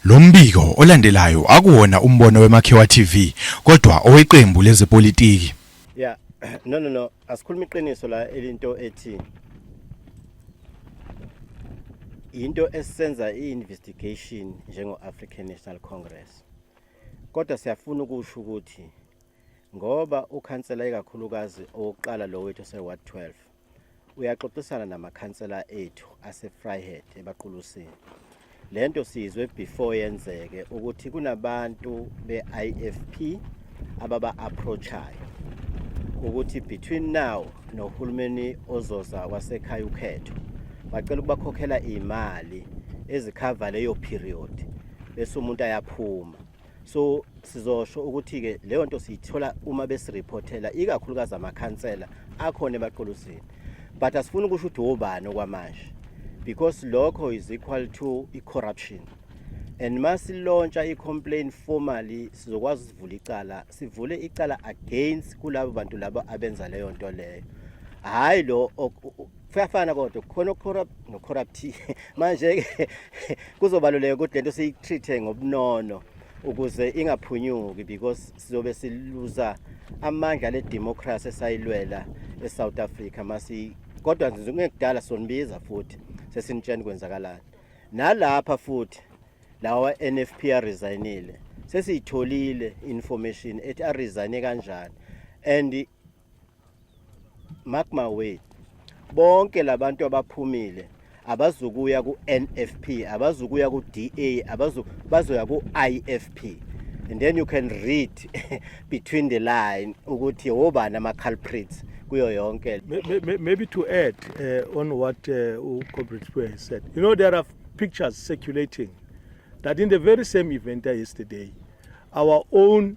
Lo mbiko olandelayo akuwona umbono weMakhiwa TV kodwa oweqembu lezepolitiki. Yeah, no no no, asikhuluma iqiniso la elinto ethi into esisenza i-investigation njengo-African National Congress. Kodwa siyafuna ukusho ukuthi ngoba ukhansela ikakhulukazi owokuqala lo wethu ose-ward 12 uyaxoxisana namakhansela ethu asefryhead ebaqulusini le nto siyizwe before yenzeke ukuthi kunabantu be-ifp ababa-approachayo ukuthi between now nohulumeni ozoza wasekhaya ukhetho bacela ukubakhokhela iy'mali ezikhava leyo period bese umuntu ayaphuma so sizosho ukuthi-ke leyo nto siyithola uma besiriphothela ikakhulukazi amakhansela akhona emaqolosini but asifuni ukusho ukuthi wobani okwamanje because lokho is equal to i-corruption and uma silontsha i-complaint formally sizokwazi usivula icala sivule icala against kulabo bantu labo abenza leyo nto leyo hhayi lo kuyafana kodwa khona ocorrupt nocorrupt manje ke kuzobaluleka ukuthi lento siyitreat ngobunono ukuze ingaphunyuki because sizobe siluza amandla le democracy esayilwela eSouth Africa masi kodwa nje ngekudala sonibiza futhi sesinitsheni kwenzakalani nalapha futhi lawa NFP resignile sesiyitholile information ethi arizane kanjani and mark my word bonke labantu abaphumile abazukuya ku-nfp abazukuya ku-da abazu bazoya ku-ifp and then you can read between the line ukuthi wobani ama-culprits kuyo yonke maybe to add uh, on what uh, ucomrade Sipwe has said you know there are pictures circulating that in the very same event yesterday our own